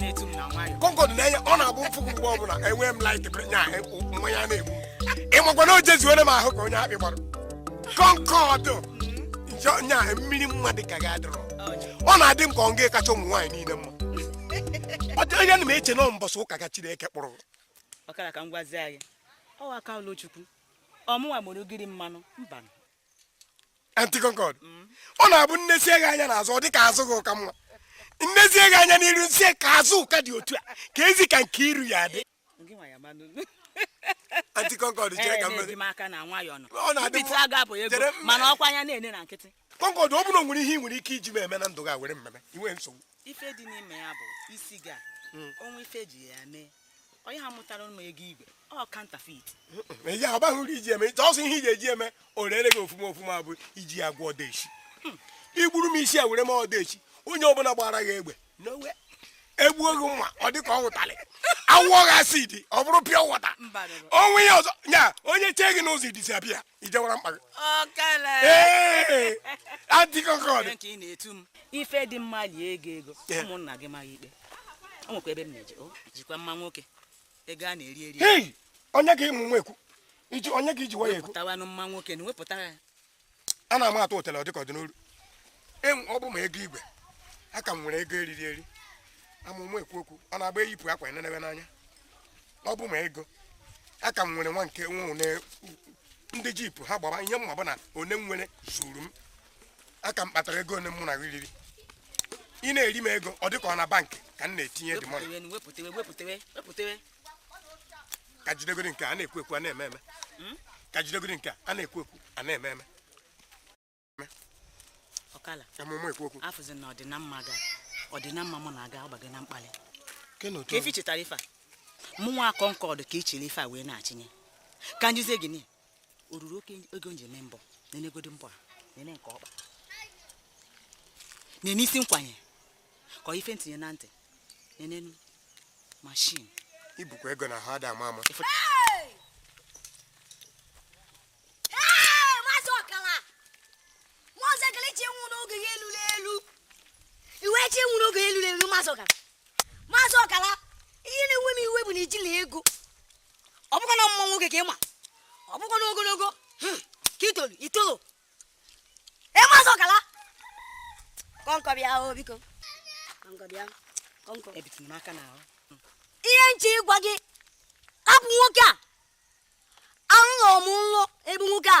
na-etu m na nwayọ kọnkọd na-enye ọ na-abụ m fụ gị mgbe ọbụla emee m laik onye mmanya na-egbu ịmakwa na o jezuore m ahụ ka onye akpị gbara kọnkọd njọ nya mmiri mma dị ka gị adịrọ ọ na-adị m ka ọ gị kacha ụmụ nwaanyị niile mma ọ dị onye na m eche na ọ mbọsị ụka ka chineke kpụrụ m. ọkala ka m gwazie anyị ọ aka ọlụ chukwu ọ mụnwa mụrụ ogiri mmanụ mbanụ anti concord mm. ọ na-abụ m nezie gị anya n'azụ ọ dị ka azụ gị ka mma m nezie gị anya n'iru m sị e ka azụ ka dị otu a keezi ka nke iru ya-adị anti concord chere ka mmadụ ọ na-adị mana ọkwa anya na-ene na nkịtị concord ọ bụrụ na o nwere ihe ị nwere ike iji m eme na ndụ gị were m meme inwe nsogbu ife dị n'ime ya bụ isi gị mm. o nwe ife ji ya mee onye ha mụtara ụmụ ego igwe ọ kantafit ya ọ baghị uru iji eme ọ sọ ihe iji eji eme o rere gị ofuma ofuma bụ iji ya gwọ odeshi hmm. i buru isi a were mee odeshi onye ọbụla gbara gị egbe n'owe egbuo gị mma ọ dị ka ọ wụ ụtalị a wụọ gị asid ọ bụrụ pịa wọta onwe ya ọzọ ya onye chee gị n'ụzọ ị disapịa i jewara mkpa gị anti kọnkọd ife dị mma lie ego ego ụmụnna gị maghị ikpe o nwekwa ebe m na-eje jikwa mma nwoke ego a na-eri eri onye ka ịmụ nwa ekwu iji onye ka iji waya ekwu wepụtawanụ mma nwoke na wepụta ya a na-ama atụ ụtara ọ dịka ọ dị n'olu ọ bụ ma ego igwe aka m nwere ego eriri eri ama m ekwu okwu ọ na-agba e yipụ akwa e nenebe n'anya ọ bụ ma ego aka m nwere nwa nke nwa one ndị jipụ ha gbaba ihe m ma bụ na one m nwere zuru m aka m kpatara ego one mụ na gị riri ị na-eri m ego ọ dịka ọ na bankị ka m na-etinye dị mọnị Wepụtewe, wepụtewe, wepụtewe, wepụtewe. ka jidegodi nke a na-ekwu ekwu a na-eme eme Mm? ka jidegodi nke a a na-ekwu ekwu a na-eme eme Ọkala, ama m ekwu okwu a fụzi na ọdịnamma gị ọdịnamma mụ na gị ọ gbago na mkpalị ke na otu ka efi chetara ife a mụnwa kọnkọd ka ị chịrị ife a wee na-achịnye ka m jizie gịnị o ruru oke ego m ji eme mbọ nenegodu mbọ a nene nke ọkpa nene isi nkwanye ka ife m tinye na ntị nenenụ mashin ibukwa ego na ha ada ama ama iwe chi nwụrụ oge elu elu mazị ọkala mazị ọkala ihe na-ewe m iwe bụ na i jilọ ego ọ bụkwa na mma nwoke ka ị ma ọ bụkwa na ogologo hmm, ka i tolu i tolu mazị ọkala kọnkọd bịa o oh, biko kọnkọd bịa kọnkọd ebitụla m aka n'ahụ hmm. ihe m chọ ịgwa gị hapụ nwoke a anụghị m nlụ ebe nwoke a